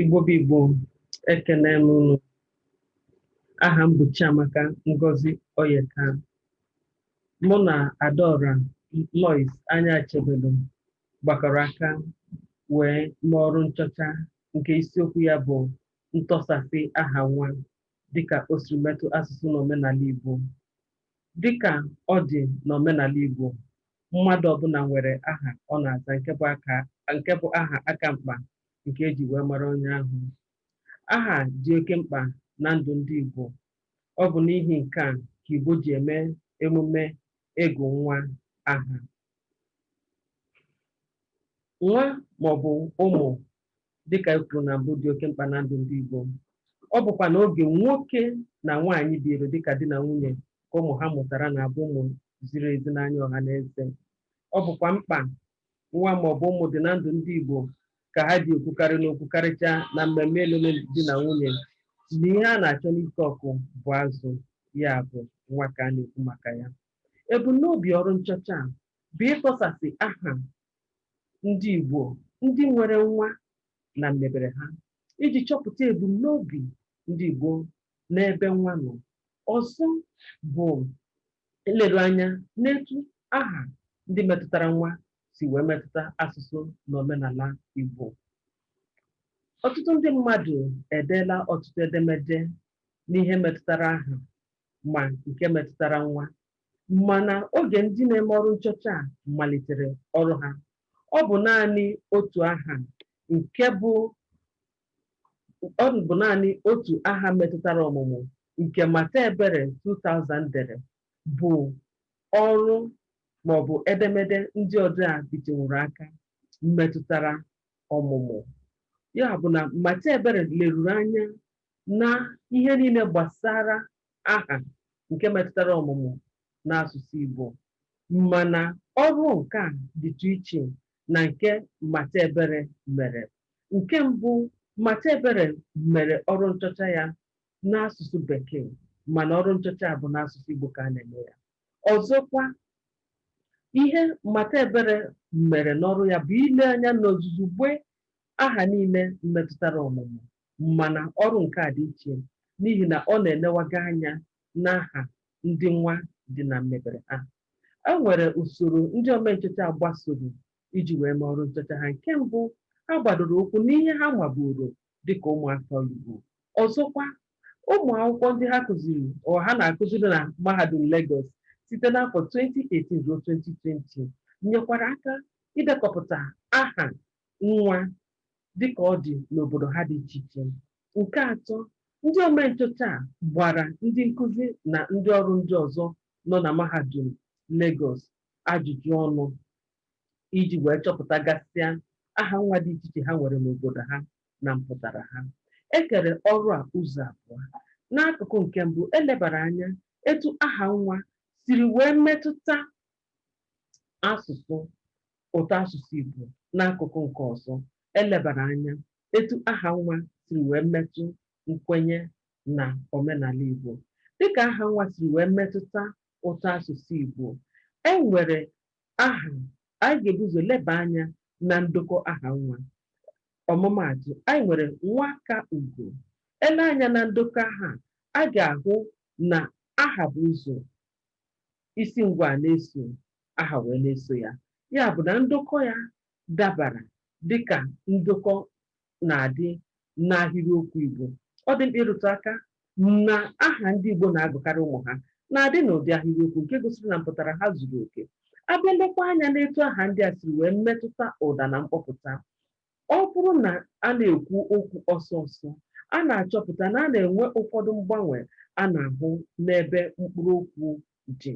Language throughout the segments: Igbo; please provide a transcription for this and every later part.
Igbo bụ Igbo ekele m unu aha m bụ Chiamaka Ngozi Oyeka mụ na Adaora Lois Anyachebelu gbakọrọ aka wee mee ọrụ nchọcha nke isiokwu ya bụ ntọsasị aha nwa dịka o siri metụ asụsụ na omenala Igbo. Dịka ọ dị n'omenala Igbo, mmadụ ọbụla nwere aha ọ na-aza nke bụ aka nke bụ aha aka mkpa nke e ji wee mara onye ahụ. Aha dị oke mkpa na ndụ ndị Igbo. Ọ bụ n'ihi nke a ka Igbo ji eme emume ịgụ nwa aha. Nwa maọbụ ụmụ dịka e kwuru na mbụ dị oke mkpa na ndụ ndị Igbo ọ bụkwa na oge nwoke na nwaanyị biri dịka di na nwunye ka ụmụ ha mụtara na-abụ ụmụ ziri ezi n'anya ọha na eze ọ bụkwa mkpa nwa ma ọ bụ ụmụ dị na ndụ ndị Igbo ka ha ji ekwukarị n'okwu karịchaa na mmemme alụmdi na nwunye na ihe a na-achọ n'ike ọkụ bụ azụ ya bụ nwa ka a na-ekwu maka ya ebumnobi ọrụ nchọcha a bụ ịtọsasị aha ndị Igbo ndị nwere nwa na mmebere ha iji chọpụta ebumnobi ndị Igbo n'ebe nwa nọ. Ọzọ bụ ileru anya n'etu aha ndị metụtara nwa si wee metụta asụsụ na omenala Igbo. Ọtụtụ ndị mmadụ edeela ọtụtụ edemede n'ihe metụtara aha ma nke metụtara nwa mana oge ndị na-eme ọrụ nchọcha a malitere ọrụ ha, ọ bụ naanị otu aha nke bụ ọ bụ naanị otu aha metụtara ọmụmụ nke Mata Ebere 2000 dere bụ ọrụ maọbụ edemede ndị ọrụ a bitenwuru aka metụtara ọmụmụ. Ya bụ na Mata Ebere leruru anya na ihe niile gbasara aha nke metụtara ọmụmụ n'asụsụ Igbo mana ọrụ nke a dịtụ iche na nke Mata Ebere mere. Nke mbụ, Mata Ebere mere ọrụ nchọcha ya n'asụsụ Bekee mana ọrụ nchọcha a bụ n'asụsụ Igbo ka a na-eme ya. Ọzọkwa, ihe Mata Ebere mere n'ọrụ ya bụ ile anya n'ozuzugbe aha niile metụtara ọmụmụ mana ọrụ nke a dị iche n'ihi na ọ na-elewaga anya n'aha ndị nwa dị na mmebere ha e nwere usoro ndị omenchọcha gbasoro iji wee mee ọrụ nchọcha ha nke mbụ ha gbadoro ụkwụ n'ihe ha maburu dịka ụmụafọ Igbo ọzọkwa ụmụ akwụkwọ ndị ha kụziri ọ ha na-akụziri na mahadum Lagos site n'afọ 2018 ruo 2020 nyekwara aka idekọpụta aha nwa dịka ọ dị n'obodo ha dị iche iche. Nke atọ, ndị omenchọcha a gbara ndị nkụzi na ndị ọrụ ndị ọzọ nọ na mahadum Legọs ajụjụ ọnụ iji wee chọpụtagasịa aha nwa dị iche iche ha nwere n'obodo ha na mpụtara ha. E kere ọrụ a ụzọ abụọ. N'akụkụ nke mbụ, e lebara anya etu aha nwa siri wee metụta asụsụ ụtọ asụsụ Igbo n'akụkụ nke ọzọ elebara anya etu aha nwa siri wee metụ nkwenye na omenala Igbo dịka aha nwa siri wee metụta ụtọ asụsụ Igbo e nwere aha anyị ga-ebu ụzọ leba anya na ndokọ aha nwa ọmụmaatụ anyị nwere nwa ka ugo e lee anya na ndokọ aha a ga-ahụ na aha bu ụzọ isi ngwaa na-eso aha wee na-eso ya ya bụ na ndokọ ya dabara dịka ndokọ na-adị n'ahịrịokwu Igbo ọ dị mkpa ịrụtụ aka na aha ndị Igbo na-agụkarị ụmụ ha na-adị n'ụdị ahịrịokwu nke gosiri na mpụtara ha zuru oke a bịa lekwa anya n'etu aha ndị a siri wee metụta ụda na mkpọpụta Ọ bụrụ na a na-ekwu okwu ọsọ ọsọ, a na-achọpụta na a na-enwe ụfọdụ mgbanwe a na-ahụ n'ebe mkpụrụ okwu dị.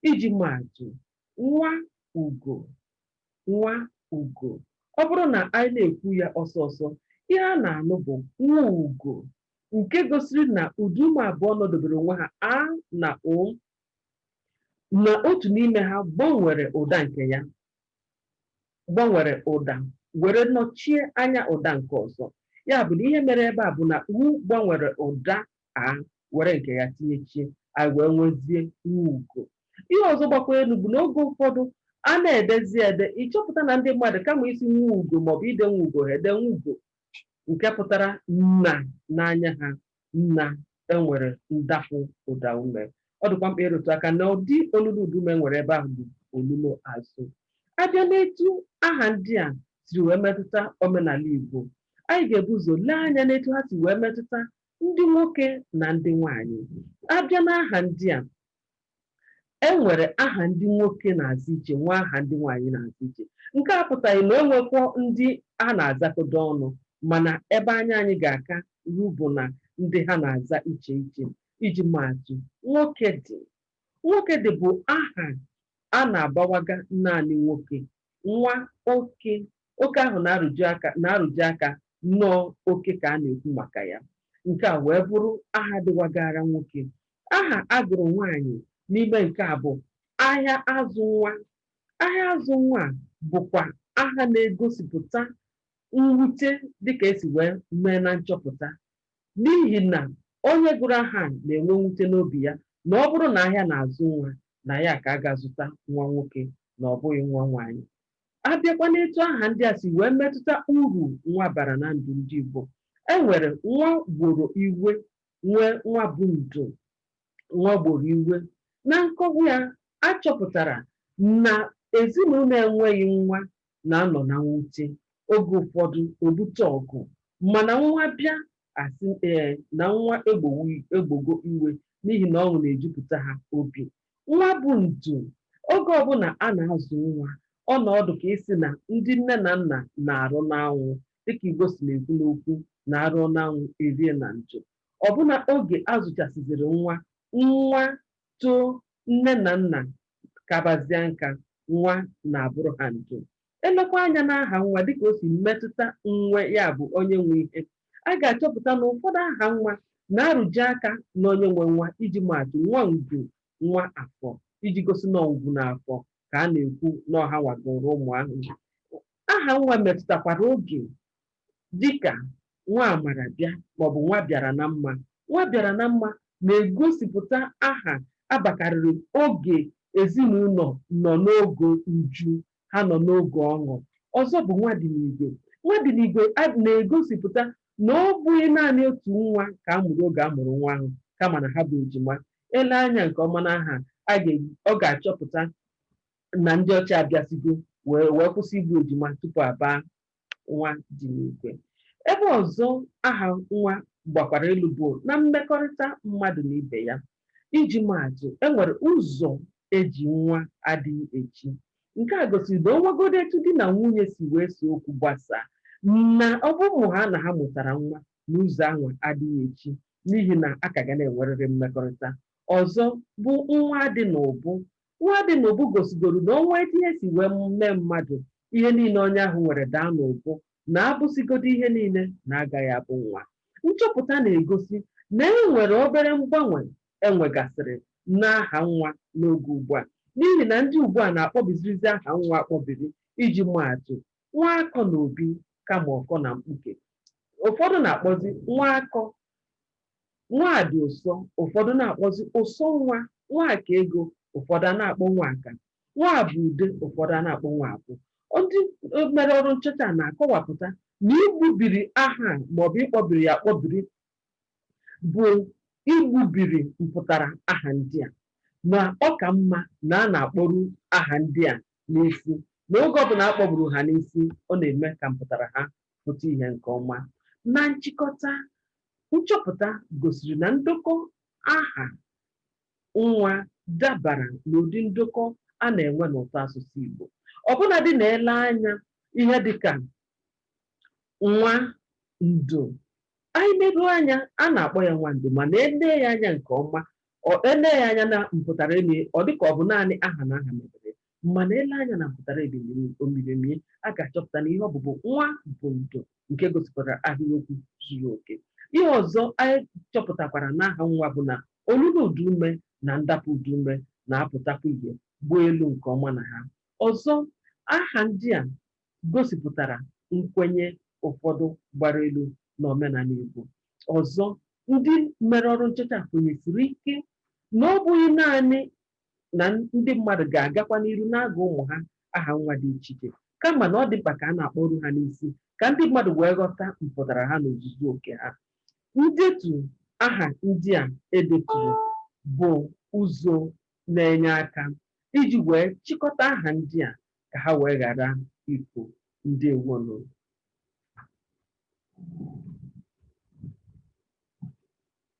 Iji maa atụ, nwa ugo, nwa ugo. Ọ bụrụ na anyị na-ekwu ya ọsọ ọsọ, ihe a na-anụ bụ nwuugo, nke gosiri na ụda ume abụọ nọdebere onwe ha, a na u, na otu n'ime ha gbanwere ụda nke ya. gbanwere ụda were nọchie anya ụda nke ọzọ. Ya bụ na ihe mere ebe a bụ na u gbanwere ụda a were nke ya tinyechie, anyị wee nwezie nwuugo. Ihe ọzọ gbakwa elu bụ na oge ụfọdụ a na-edezi ede, ị chọpụta na ndị mmadụ kama ịsị nwuugo maọbụ ide nwuugo ha ede nwugo nke pụtara na n'anya ha. na e nwere ndapụ ụda ume. Ọ dịkwa mkpa ịrụtụ aka na ụdị olilo ụda ume e nwere ebe ahụ bụ olilo azụ. A bịa n'etu aha ndị a siri wee metụta omenala Igbo, anyị ga-ebu ụzọ lee anya n'etu ha si wee metụta ndị nwoke na ndị nwaanyị. A bịa n'aha ndị a, e nwere aha ndị nwoke na-aza iche, nwee aha ndị nwaanyị na-aza iche. Nke a apụtaghị na e nwekwọ ndị a na-azakọdo ọnụ, mana ebe anya anyị ga-aka eru bụ na ndị ha na-aza iche iche. Iji maa atụ, Nwokedị. Nwokedị bụ aha a na-abawaga naanị nwoke nwa oke oke ahụ na-arụtụ aka na ọ oke ka a na-ekwu maka ya nke a wee bụrụ aha dịwagara nwoke aha a gụrụ nwaanyị n'ime nke a bụ ahịa azụ nwa ahịa azụ nwa bụkwa aha na-egosipụta mwute dịka e si wee mee na nchọpụta n'ihi na onye gụrụ aha a na-enwe mwute n'obi ya na ọ bụrụ na ahịa na-azụ nwa, na ya aka ga-azụta nwa nwoke na ọ bụghị nwa nwaanyị. A bịakwa n'etu aha ndị a si wee metụta uru nwa bara na ndụ ndị Igbo, e nwere nwa gboro iwe, nwee nwa bụ ndo. Nwa gboro iwe. Na nkọwa ya, a chọpụtara na ezinụlọ enweghị nwa na-anọ na mwute, oge ụfọdụ o bute ọgụ, mana nwa bịa, a sị ee na nwa egbogo iwe n'ihi na ọṅụ na-ejupụta ha obi. Nwa bụ ndo. Oge ọbụla a na-azụ nwa, ọ na-adị ka ị sị na ndị nne na nna na-arụ n'anwụ, dịka Igbo si na-ekwu n'okwu na a rụọ n'anwụ, e rie na ndo. ọbụna oge a zụchasịziri nwa, nwa too, nne na nna kabazịa nka, nwa na-abụrụ ha ndo. E lekwa anya n'aha nwa dị ka o si metụta nwe, ya bụ, onye nwe ihe, a ga-achọpụta na ụfọdụ aha nwa na-arụtụ aka n'onye nwe nwa. Iji maa atụ, Nwa Ngwu, Nwa Afọ, iji gosi na ọ Ngwu na Afọ ka a na-ekwu, na ọ hanwa gụrụ ụmụ ahụ. Aha nwa metụtakwara oge dịka nwa mara bịa maọbụ nwa bịara na mma. Nwa bịara na mma na-egosipụta aha a bakarịrị oge ezinụlọ nọ n'oge uju, ha nọ n'oge ọṅụ. Ọzọ bụ nwa dị n'igwe. Nwa dị n'igwe a na-egosipụta na ọ bụghị naanị otu nwa ka a mụrụ oge a mụrụ nwa ahụ kama na ha bụ ejima. E lee anya nke ọma n'aha a, a ga-achọpụta na ndị ọcha abịasịgo wee kwụsị igbu ejima tupu a baa nwa dị n'igwe ebe ọzọ aha nwa gbakwara elu bụ na mmekọrịta mmadụ na ibe ya iji maatụ e nwere ụzọ e ji nwa adịghị echi nke a gosiri na o nwegodo etu di na nwunye si wee see okwu gbasaa na ọ bụrụhaa na ha mụtara nwa na ụzọ ahụ adịghị echi n'ihi na a ka ga na-enwerịrị mmekọrịta ọzọ bụ nwa dị n'obu Nwadịnụbụ gosigoro na o nwee etu ihe si wee mee mmadụ, ihe niile onye ahụ nwere daa n'ụbụ na a bụsịgodu ihe niile na a gaghị abụ nwa. Nchọpụta na-egosi na e nwere obere mgbanwe e nwegasịrị n'aha nwa n'oge ugbu a n'ihi na ndị ugbu a na-akpọbizirizi aha nwa akpọbiri iji maa atụ, Nwaakọnaobi kama ọ kọ na mkpuke. Ụfọdụ na-akpọzi Nwaakọ Nwadịụsọ, ụfọdụ na-akpọzi ụsọ nwa, Nwakaego, ụfọdụ a na-akpọ Nwaka, Nwabude, ụfọdụ a na-akpọ Nwabụ. Ndị mere ọrụ nchọcha a na-akọwapụta na igbubiri aha a maọbụ ịkpọbiri ya akpọbiri bụ igbubiri mpụtara aha ndị a, na ọ ka mma na a na-akpọru aha ndị a n'isi, na oge ọbụla a kpọburu ha n'isi, ọ na-eme ka mpụtara ha pụta ihe nke ọma. Na nchịkọta, Nchọpụta gosiri na ndokọ aha nwa dabara n'ụdị ndokọ a na-enwe n'ụtọasụsụ Igbo. Ọbụladị na e lee anya ihe dị ka Nwando, anyị leruo anya, a na-akpọ ya Nwando mana e lee ya anya nke ọma, ọ e lee ya anya na mpụtara elu ya, ọ dị ka ọ bụ naanị aha na aha mebere ya. mana e lee anya na mpụtara edemede omiremie a ga-achọpụta na ihe ọ bụ bụ nwa bụ ndo nke gosipụtara ahịrịokwu zuru oke ihe ọzọ anyị chọpụtakwara n'aha nwa bụ na olilo ụdaume na ndapụ ụdaume na-apụtakwa ihe gbuo elu nke ọma na ha ọzọ aha ndị a gosipụtara nkwenye ụfọdụ gbara elu na omenala Igbo ọzọ ndị mere ọrụ nchọcha kwenyesiri ike na ọ bụghị naanị na ndị mmadụ ga-agakwa n'iru na-agụ ụmụ ha aha nwa dị iche iche kama na ọ dị mkpa ka a na-akpọru ha n'isi ka ndị mmadụ wee ghọta mpụtara ha n'ozuzu oke ha ndetu aha ndị a e deturu bụ ụzọ na-enye aka iji wee chịkọta aha ndị a ka ha wee ghara ifu ndewo nụ